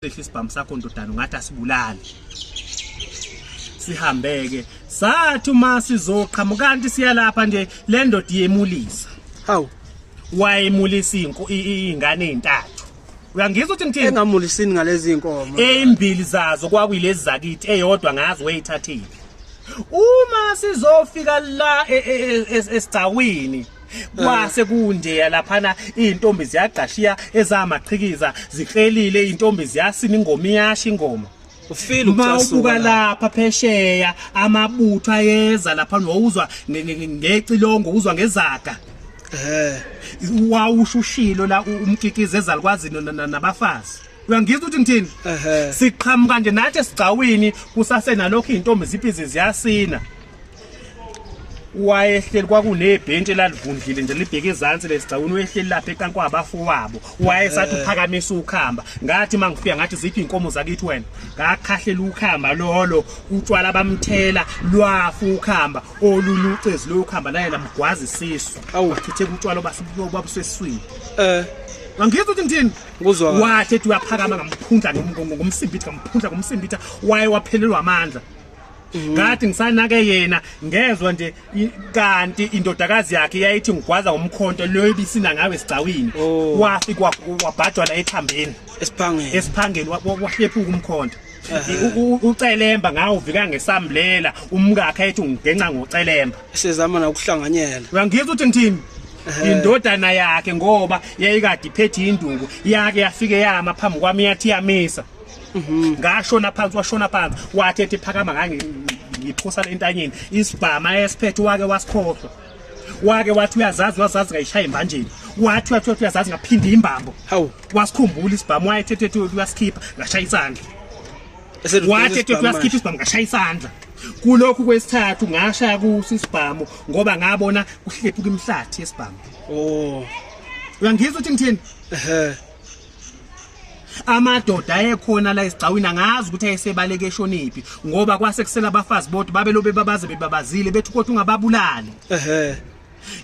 Sehla isibhamu sakho ndodana ungathi asibulali. Sihambeke. Sathi uma sizoqhamuka kanti siyalapha nje le ndoda iyemulisa. Hawu. Wayemulisa inko ingane ezintathu. Uyangizwa ukuthi ngithini? Engamulisini ngalezi inkomo. Ezimbili zazo kwakuyilezi zakithi eyodwa ngazi wayithathile. Uma sizofika la e, e, e, esigcawini kwase kunjeya laphana izintombi ziyagqashiya ezamachikiza ziklelile izintombi ziyasina ingoma iyasha ingoma ufile ukucasuka lapha phesheya amabutho ayeza lapha wawuzwa ngecilongo uzwa ngezaga eh wawushushilo la umkikize ezalukwazi nabafazi uyangizwa ukuthi ngithini siqhamuka nje nathi esigcawini kusasenalokho izintombi ziphi ziyasina wayehleli kwakunebhentshi elalivundlile nje libheke ezansi lesigcawini wehleli lapha ecansi kwabafowabo wayesathi eh. uphakamisa ukhamba ngathi uma ngifika ngathi ziphi iy'nkomo zakithi wena ngakhahlela ukhamba lolo utshwala bamthela lwafa ukhamba olunye ucezi loyo khamba naye lamgwaza isisu awuchitheka utshwala obabuseswini um eh. angizwa ukuthi ngithini wathi ethi uyaphakama ngamphundla ngomsimbitha ngamphundla ngomsimbitha waye waphelelwa amandla Mm. ngathi ngisanake yena ngezwa nje kanti indodakazi yakhe yayithi ngigwaza ngomkhonto leyo ibisina ngawe sigcawini oh. wafi kwabhajwana ethambeni esiphangeni esiphangeni wahlephuka umkhonto ucelemba ngawo uvika ngesambulela umkakhe ethi ungigenca ngocelemba sezama nokuhlanganyela uyangizwa ukuthi ngithini indodana yakhe ngoba yayikade iphethe induku yake yafike yama phambi kwami yathi yamisa mhm. ngashona phansi washona phansi wathi ethi phakama kange ngiphusa le ntanyeni isibhama esiphethe wake wasikhohlwa wake wathi uyazazi wazazi ngayishaya imbanjeni wathi wathi wathi uyazazi ngaphinde imbambo hawu wasikhumbula isibhamu wayethethe ethi uyasikhipha ngashaya isandla wathi ethi uyasikhipha isibhamu ngashaya isandla kulokhu kwesithathu ngashaya kuso isibhamu ngoba ngabona kuhlephuka imhlathi yesibhamu oh uyangizwa ukuthi ngithini ehe amadoda ayekhona la esigcawini angazi ukuthi ayesebaleke eshoniphi ngoba kwase kusela abafazi bodwa babelobe babaze bebabazile bethi kodwa ungababulali ehe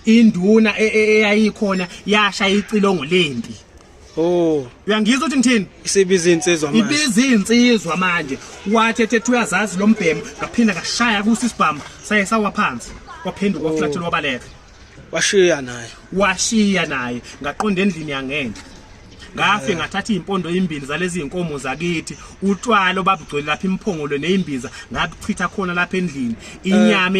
induna e, e, eyayikhona yasha icilongo lempi Oh. Uyangizwa ukuthi ngithini? Isibiza insizwa manje. Ibiza insizwa manje. Wathi ethe uyazazi lombhemu, ngaphinda ngashaya kusi isibhamu, saye sawa phansi. Kwaphenduka oh. flat lwabaleka. washiya naye washiya naye ngaqonda endlini yangenhla ngafe ngathatha izimpondo ezimbili zalezi zinkomo zakithi utshwalo babugcwele lapha imphongolo nezimbiza ngabuchitha khona lapha endlini inyama